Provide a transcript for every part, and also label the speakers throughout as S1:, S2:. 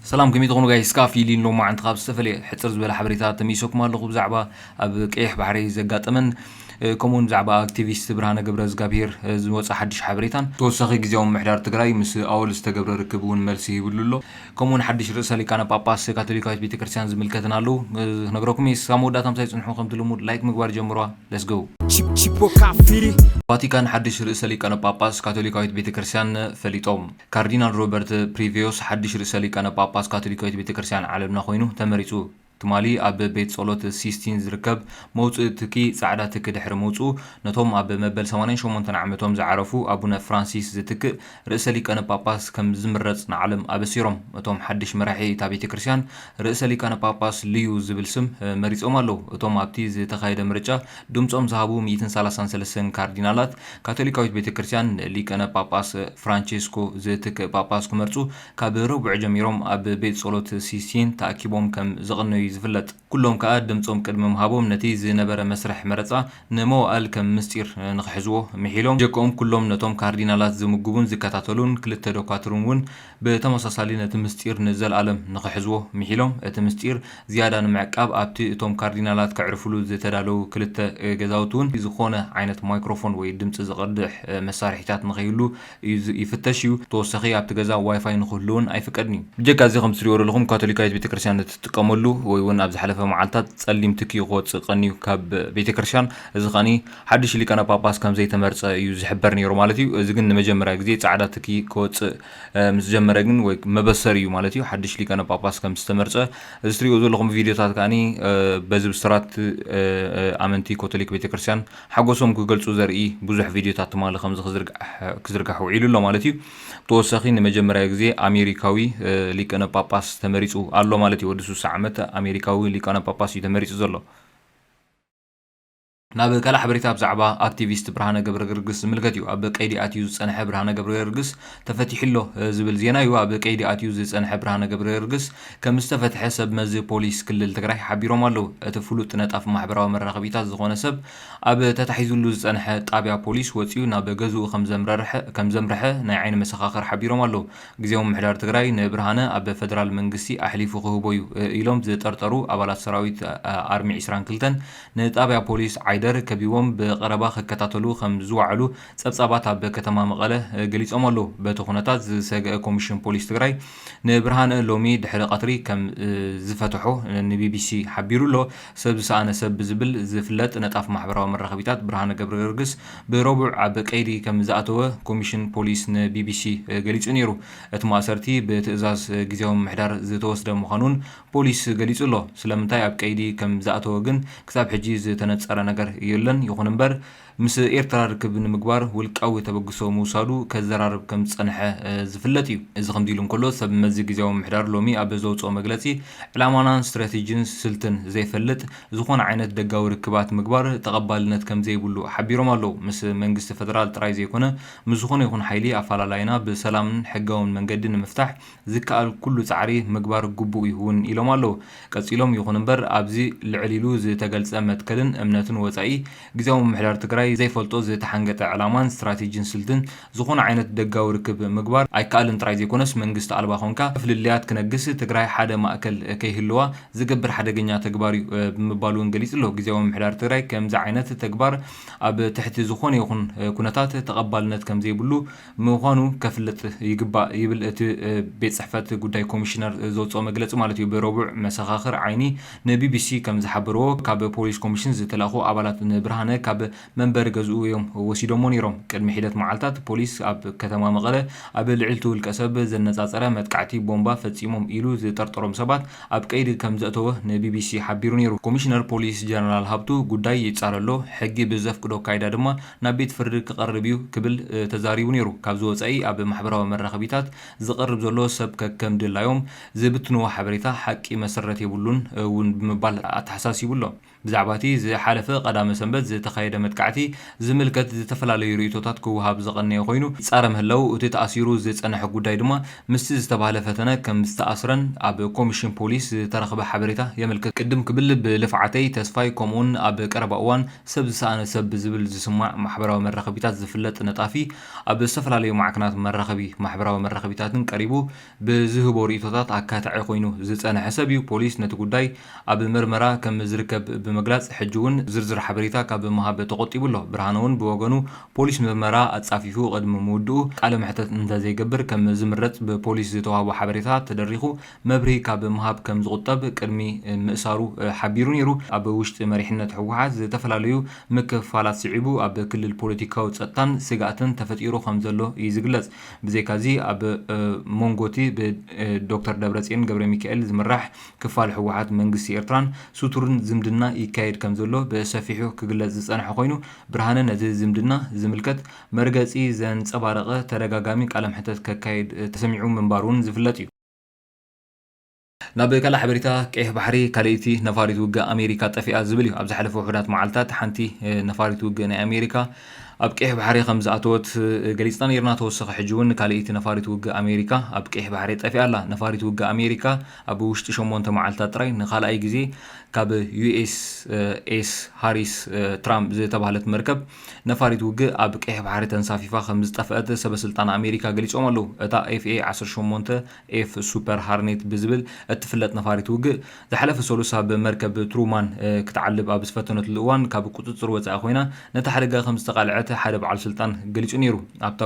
S1: ሰላም ከመይ ትኾኑ ጋይስ እስካ ፊሊን ሎማዓንቲ ካብ ዝተፈለየ ሕጽር ዝበለ ሓበሬታ ተመይሰኩም ኣለኹ ብዛዕባ ኣብ ቀይሕ ባሕሪ ዘጋጠመን ከምኡውን ብዛዕባ ኣክቲቪስት ብርሃነ ገብረዝጋብሄር ዝወጸ ሓድሽ ሓበሬታን ብተወሳኺ ግዝያዊ ምምሕዳር ትግራይ ምስ ኣወል ዝተገብረ ርክብ እውን መልሲ ሂብሉ ኣሎ ከምኡውን ሓድሽ ርእሰ ሊቃነ ጳጳስ ካቶሊካዊት ቤተክርስትያን ዝምልከትን ኣለዉ ክነግረኩም እየ እስካብ መወዳእታ ምሳይ ጽንሑ ከምቲ ልሙድ ላይክ ምግባር ጀምሯ ለስ ጎ ቫቲካን ሓድሽ ርእሰ ሊቃነ ጳጳስ ካቶሊካዊት ቤተክርስትያን ፈሊጦም ካርዲናል ሮበርት ፕሪቬዮስ ሓድሽ ርእሰ ሊቃነ ጳጳስ ካቶሊካዊት ቤተ ክርስቲያን ዓለምና ኰይኑ ተመሪጹ። ትማሊ ኣብ ቤት ጸሎት ሲስቲን ዝርከብ መውጽኢ ትኪ ጻዕዳ ትኪ ድሕሪ ምውጽኡ ነቶም ኣብ መበል ሰማንያን ሸሞንተን ዓመቶም ዝዓረፉ ኣቡነ ፍራንሲስ ዝትክእ ርእሰ ሊቃነ ጳጳስ ከም ዝምረጽ ንዓለም ኣበሲሮም። እቶም ሓድሽ መራሒ እታ ቤተ ክርስቲያን ርእሰ ሊቃነ ጳጳስ ልዩ ዝብል ስም መሪጾም ኣለዉ። እቶም ኣብቲ ዝተኻየደ ምርጫ ድምጾም ዝሃቡ ሚእትን ሰላሳን ሰለስተን ካርዲናላት፣ ካቶሊካዊት ቤተ ክርስቲያን ንሊቀነ ጳጳስ ፍራንቸስኮ ዝትክእ ጳጳስ ክመርጹ ካብ ረቡዕ ጀሚሮም ኣብ ቤት ጸሎት ሲስቲን ተኣኪቦም ከም ዘቐነዩ'ዩ ዝፍለጥ። ኩሎም ከኣ ድምጾም ቅድሚ ምሃቦም ነቲ ዝነበረ መስርሕ መረጻ ንመዋእል ከም ምስጢር ንኽሕዝዎ ምሒሎም። ጀክኦም ኩሎም ነቶም ካርዲናላት ዝምግቡን ዝከታተሉን ክልተ ዶኳትርን'ውን ብተመሳሳሊ ነቲ ምስጢር ንዘልኣለም ንኽሕዝዎ ምሒሎም፣ እቲ ምስጢር ዝያዳ ንምዕቃብ ኣብቲ እቶም ካርዲናላት ከዕርፍሉ ዝተዳለዉ ክልተ ገዛውቲ እውን ዝኾነ ዓይነት ማይክሮፎን ወይ ድምጺ ዝቐድሕ መሳርሒታት ንኸይህሉ ይፍተሽ እዩ፣ ብተወሳኺ ኣብቲ ገዛ ዋይፋይ ንኽህሉ'ውን ኣይፍቀድን እዩ። ብጀካ እዚ ከምቲ ትሪእዎ ዘለኹም ካቶሊካዊት ቤተክርስትያን ነቲ ትጥቀመሉ ወይ እውን ኣብ ዝሓለፈ መዓልታት ጸሊም ትኪ ክወጽእ ቀንዩ ካብ ቤተክርስትያን እዚ ከኣ ሓድሽ ሊቃነ ጳጳስ ከም ዘይተመርጸ እዩ ዝሕበር ነይሩ ማለት እዩ። እዚ ግን ንመጀመርያ ግዜ ጻዕዳ ትኪ ክወጽእ ምስ ጀመረ ግን ወይ መበሰሪ እዩ ማለት እዩ ሓድሽ ሊቃነ ጳጳስ ከም ዝተመርጸ። እዚ ትሪእዎ ዘለኹም ቪድዮታት ከኣኒ በዚ ብስራት ኣመንቲ ኮቶሊክ ቤተክርስትያን ሓጎሶም ክገልጹ ዘርኢ ብዙሕ ቪድዮታት ትማሊ ከምዚ ክዝርጋሕ ውዒሉ ኣሎ ማለት እዩ። ብተወሳኺ ንመጀመርያ ግዜ ኣሜሪካዊ ሊቅነ ጳጳስ ተመሪጹ ኣሎ ማለት እዩ። ወዲ ስሳ ዓመት ኣሜሪካዊ ሊቃነ ጳጳስ እዩ ተመሪጹ ዘሎ። ናብ ካልእ ሓበሬታ ብዛዕባ ኣክቲቪስት ብርሃነ ገብረገርግስ ዝምልከት እዩ። ኣብ ቀይዲ ኣትዩ ዝጸንሐ ብርሃነ ገብረገርግስ ተፈቲሑ'ሎ ዝብል ዜና'ዩ ኣብ ቀይዲ ኣትዩ ዝጸንሐ ብርሃነ ገብረገርግስ ከም ዝተፈትሐ ሰብ መዚ ፖሊስ ክልል ትግራይ ሓቢሮም ኣለው። እቲ ፍሉጥ ነጣፊ ማሕበራዊ መራኸቢታት ዝኾነ ሰብ ኣብ ተታሒዙሉ ዝጸንሐ ጣብያ ፖሊስ ወጺኡ ናብ ገዝኡ ከምዘምርሐ ናይ ዓይኒ መሰኻኽር ሓቢሮም ኣለው። ግዝያዊ ምምሕዳር ትግራይ ንብርሃነ ኣብ ፈደራል መንግስቲ ኣሕሊፉ ክህቦ'ዩ ኢሎም ዝጠርጠሩ ኣባላት ሰራዊት ኣርሚ ዕስራን ክልተን ንጣብያ ፖሊስ ዓይደር ከቢቦም ብቐረባ ክከታተሉ ከም ዝወዓሉ ፀብፃባት ኣብ ከተማ መቐለ ገሊፆም ኣለው። በቲ ኩነታት ዝሰገኣ ኮሚሽን ፖሊስ ትግራይ ንብርሃነ ሎሚ ድሕሪ ቀትሪ ከም ዝፈተሖ ንቢቢሲ ሓቢሩ ኣሎ። ሰብ ዝሰኣነ ሰብ ብዝብል ዝፍለጥ ነጣፍ ማሕበራዊ መራኸቢታት ብርሃነ ገብረገርግስ ብረቡዕ ኣብ ቀይዲ ከም ዝኣተወ ኮሚሽን ፖሊስ ንቢቢሲ ገሊፁ ነይሩ። እቲ ማእሰርቲ ብትእዛዝ ግዝያዊ ምምሕዳር ዝተወስደ ምዃኑን ፖሊስ ገሊጹ ኣሎ። ስለምንታይ ኣብ ቀይዲ ከም ዝኣተወ ግን ክሳብ ሕጂ ዝተነጸረ ነገር የሎን። ይኹን እምበር ምስ ኤርትራ ርክብ ንምግባር ውልቃዊ ተበግሶ ምውሳዱ ከዘራርብ ከም ዝጸንሐ ዝፍለጥ እዩ። እዚ ከምዚ ኢሉ እንከሎ ሰብ መዚ ግዝያዊ ምምሕዳር ሎሚ ኣብ ዘውጽኦ መግለጺ ዕላማና ስትራቴጂን ስልትን ዘይፈልጥ ዝኾነ ዓይነት ደጋዊ ርክባት ምግባር ተቐባልነት ከም ዘይብሉ ሓቢሮም ኣለው። ምስ መንግስቲ ፈደራል ጥራይ ዘይኮነ ምስ ዝኾነ ይኹን ሓይሊ ኣፈላላይና ብሰላምን ሕጋውን መንገዲ ንምፍታሕ ዝከኣል ኩሉ ፃዕሪ ምግባር ግቡእ እዩ እውን ኢሎም ኣለው። ቀፂሎም ይኹን እምበር ኣብዚ ልዕል ኢሉ ዝተገልፀ መትከልን እምነትን ወፃኢ ግዝያዊ ምምሕዳር ትግራይ ዘይፈልጦ ዝተሓንገጠ ዕላማን ስትራቴጂን ስልትን ዝኾነ ዓይነት ደጋዊ ርክብ ምግባር ኣይከኣልን ጥራይ ዘይኮነስ መንግስቲ ኣልባ ኮንካ ፍልልያት ክነግስ ትግራይ ሓደ ማእከል ከይህልዋ ዝገብር ሓደገኛ ተግባር እዩ ብምባል እውን ገሊፁ ኣሎ። ግዝያዊ ምምሕዳር ትግራይ ከምዚ ዓይነት ተግባር ኣብ ትሕቲ ዝኾነ ይኹን ኩነታት ተቐባልነት ከምዘይብሉ ምዃኑ ከፍልጥ ይግባእ ይብል እቲ ቤት ጽሕፈት ጉዳይ ኮሚሽነር ዘውጽኦ መግለጺ ማለት እዩ። ብረቡዕ መሰኻኽር ዓይኒ ንቢቢሲ ከም ዝሓበርዎ፣ ካብ ፖሊስ ኮሚሽን ዝተላእኩ ኣባላት ንብርሃነ ካብ መንበሪ ገዝኡ እዮም ወሲዶምዎ ነይሮም። ቅድሚ ሒደት መዓልታት ፖሊስ ኣብ ከተማ መቐለ ኣብ ልዕሊ'ቲ ውልቀሰብ ዘነጻጸረ መጥቃዕቲ ቦምባ ፈጺሞም ኢሉ ዝጠርጠሮም ሰባት ኣብ ቀይዲ ከም ዘእተወ ንቢቢሲ ሓቢሩ ነይሩ። ኮሚሽነር ፖሊስ ጀነራል ሃብቱ ጉዳይ ይጻረ'ሎ፣ ሕጊ ብዘፍቅዶ ኣካይዳ ድማ ናብ ቤት ፍርዲ ክቐርብ እዩ ክብል ተዛሪቡ ነይሩ። ካብዚ ወፃኢ ኣብ ማሕበራዊ መራኸቢታት ዝቐርብ ዘሎ ሰብ ከከም ድላዮም ዝብትንዎ ሓበሬታ ሓቂ መሰረት የብሉን እውን ብምባል ኣተሓሳሲቡ ኣሎ። ብዛዕባ እቲ ዝሓለፈ ቀዳመ ሰንበት ዝተኻየደ መጥቃዕቲ ዝምልከት ዝተፈላለዩ ርእይቶታት ክወሃብ ዝቐነየ ኮይኑ ይፃረ ምህላዉ እቲ ተኣሲሩ ዝፀንሐ ጉዳይ ድማ ምስቲ ዝተባህለ ፈተነ ከም ዝተኣስረን ኣብ ኮሚሽን ፖሊስ ዝተረኽበ ሓበሬታ የመልክት። ቅድም ክብል ብልፍዓተይ፣ ተስፋይ ከምኡ'ውን ኣብ ቀረባ እዋን ሰብ ዝሰኣነ ሰብ ብዝብል ዝስማዕ ማሕበራዊ መራኸቢታት ዝፍለጥ ነጣፊ ኣብ ዝተፈላለዩ ማዕከናት መራኸቢ ማሕበራዊ መራኸቢታትን ቀሪቡ ብዝህቦ ርእይቶታት ኣካታዒ ኮይኑ ዝጸንሐ ሰብ'ዩ። ፖሊስ ነቲ ጉዳይ ኣብ ምርመራ ከም ዝርከብ ብምግላጽ ሕጂ'ውን ዝርዝር ሓበሬታ ካብ ምሃብ ተቖጢቡ ኣሎ። ብርሃነ'ውን ብወገኑ ፖሊስ ምርመራ ኣጻፊፉ ቅድሚ ምውድኡ ቃለ መሕተት እንተዘይገብር ከም ዝምረጽ ብፖሊስ ዝተዋህቦ ሓበሬታ ተደሪኹ መብርሂ ካብ ምሃብ ከም ዝቑጠብ ቅድሚ ምእሳሩ ሓቢሩ ነይሩ። ኣብ ውሽጢ መሪሕነት ህወሓት ዝተፈላለዩ ምክፍፋላት ስዒቡ ኣብ ክልል ፖለቲካዊ ጸጥታን ስግኣትን ተፈጢሩ ከም ዘሎ እዩ ዝግለጽ። ብዘይካ'ዚ ኣብ ሞንጎ'ቲ ብ ዶክተር ደብረጽዮን ገብረሚካኤል ዝምራሕ ክፋል ህወሓት መንግስቲ ኤርትራን ስቱርን ዝምድና ይካየድ ከም ዘሎ ብሰፊሑ ክግለጽ ዝጸንሐ ኮይኑ፣ ብርሃነ ነቲ ዝምድና ዝምልከት መርገጺ ዘንጸባረቐ ተደጋጋሚ ቃለመሕተት ከካይድ ተሰሚዑ ምንባሩ'ውን ዝፍለጥ እዩ። ናብ ካልእ ሓበሬታ ቀይሕ ባሕሪ፣ ካልኣይቲ ነፋሪት ውግእ ኣሜሪካ ጠፊኣ ዝብል እዩ። ኣብ ዝሓለፈ ውሑዳት መዓልታት ሓንቲ ነፋሪት ውግእ ናይ ኣሜሪካ ኣብ ቀይሕ ባሕሪ ከም ዝኣተወት ገሊጽና ነይርና። ተወሰኺ ሕጂ'ውን ካልኣይቲ ነፋሪት ውግእ ኣሜሪካ ኣብ ቀይሕ ባሕሪ ጠፊኣ ኣላ። ነፋሪት ውግእ ኣሜሪካ ኣብ ውሽጢ ሸሞንተ መዓልታት ጥራይ ንኻልኣይ ግዜ ካብ USS Harris Trump ዝተባህለት መርከብ ነፋሪት ውግእ ኣብ ቀይሕ ባሕሪ ተንሳፊፋ ከምዝጠፍአት ሰበስልጣን ኣሜሪካ ገሊጾም ኣለዉ። እታ FA ዓሰርተ ሸሞንተ F Super Harnet ብዝብል እትፍለጥ ነፋሪት ውግእ፣ ዝሓለፈ ሰሉስ ኣብ መርከብ Truman ክትዓልብ ኣብ ዝፈተነትሉ እዋን ካብ ቁጽጽር ወጻኢ ኮይና ነቲ ሓደጋ ከምዝተቓልዐት ሓደ በዓል ስልጣን ገሊጹ ነይሩ። ኣብታ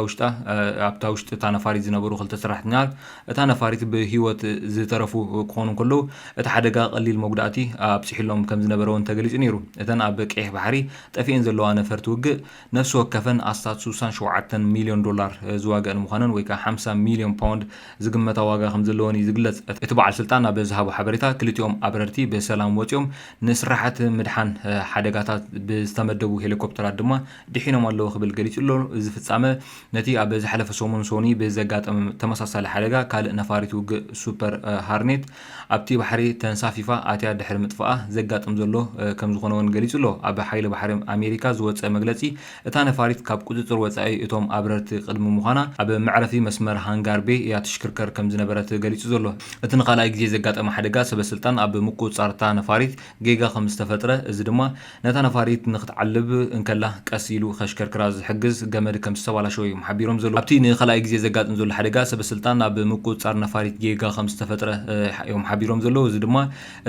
S1: ውሽጢ እታ ነፋሪት ዝነበሩ ክልተ ሰራሕተኛታት እታ ነፋሪት ብህይወት ዝተረፉ ክኾኑ እንከለዉ፣ እቲ ሓደጋ ቀሊል መጉዳእቲ ኣብጺሑሎም ከም ዝነበረ'ውን ተገሊጹ ነይሩ። እተን ኣብ ቀይሕ ባሕሪ ጠፊኤን ዘለዋ ነፈርቲ ውግእ፣ ነፍሲ ወከፈን ኣስታት ስሳን ሸውዓተን ሚልዮን ዶላር ዝዋገኣን ምዃነን ወይ ከኣ ሓምሳ ሚልዮን ፓውንድ ዝግመታ ዋጋ ከም ዘለወን'ዩ ዝግለጽ። እቲ በዓል ስልጣን ኣብ ዝሃቦ ሓበሬታ፣ ክልቲኦም ኣብረርቲ ብሰላም ወጺኦም፣ ንስራሓት ምድሓን ሓደጋታት ብዝተመደቡ ሄሊኮፕተራት ድማ ድሒኖም ኣለዉ ክብል ገሊጹ'ሎ። እዚ ፍጻመ፣ ነቲ ኣብ ዝሓለፈ ሰሙን ሶኑይ ብዘጋጠመ ተመሳሳሊ ሓደጋ ካልእ ነፋሪት ውግእ ሱፐር ሃርኔት ኣብቲ ባሕሪ ተንሳፊፋ ኣትያ ድሕሪ ምጥፍኣ ዘጋጥም ዘሎ ከምዝኾነ'ውን ገሊጹ'ሎ። ኣብ ሓይሊ ባሕሪ ኣሜሪካ ዝወጸ መግለጺ፣ እታ ነፋሪት ካብ ቁጽጽር ወጻኢ እቶም ኣብረርቲ ቅድሚ ምዃና ኣብ መዕረፊ መስመር ሃንጋር ቤይ እያ ትሽክርከር ከምዝነበረት ገሊጹ ዘሎ። እቲ ንኻልኣይ ግዜ ዘጋጠመ ሓደጋ፣ ሰበስልጣን ኣብ ምቁጽጻር እታ ነፋሪት ጌጋ ከምዝተፈጥረ፣ እዚ ድማ ነታ ነፋሪት ንኽትዓልብ እንከላ ቀስ ኢሉ ከሽከርክራ ዝሕግዝ ገመድ ከም ዝተባላሸወ እዮም ሓቢሮም ዘለዉ። ኣብቲ ንኻልኣይ ግዜ ዘጋጥም ዘሎ ሓደጋ ሰበስልጣን ኣብ ምቁጽጻር ነፋሪት ጌጋ ከም ዝተፈጥረ እዮም ሓቢሮም ዘለዉ፣ እዚ ድማ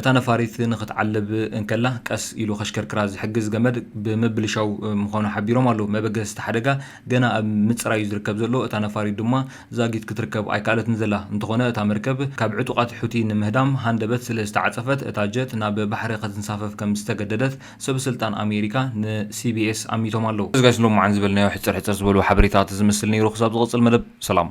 S1: እታ ነፋሪት ንኽትዓልብ እንከላ ቀስ ኢሉ ከሽከርክራ ዝሕግዝ ገመድ ብምብልሻው ምዃኑ ሓቢሮም ኣለዉ። መበገሲ እቲ ሓደጋ ገና ኣብ ምጽራይ እዩ ዝርከብ ዘሎ፣ እታ ነፋሪት ድማ ዛጊት ክትርከብ ኣይከኣለትን ዘላ። እንተኾነ እታ መርከብ ካብ ዕጡቓት ሑቲ ንምህዳም ሃንደበት ስለ ዝተዓጸፈት እታ ጀት ናብ ባሕሪ ከትንሳፈፍ ከም ዝተገደደት ሰበስልጣን ኣሜሪካ ንሲቢኤስ ኣሚቶም ኣለዉ። እዚ ጋይስ ንሎምዓንቲ ዝበልናዮ ሕጽር ሕጽር ዝበሉ ሓበሬታት ዝምስል ነይሩ ክሳብ ዝቕጽል መደብ ሰላም።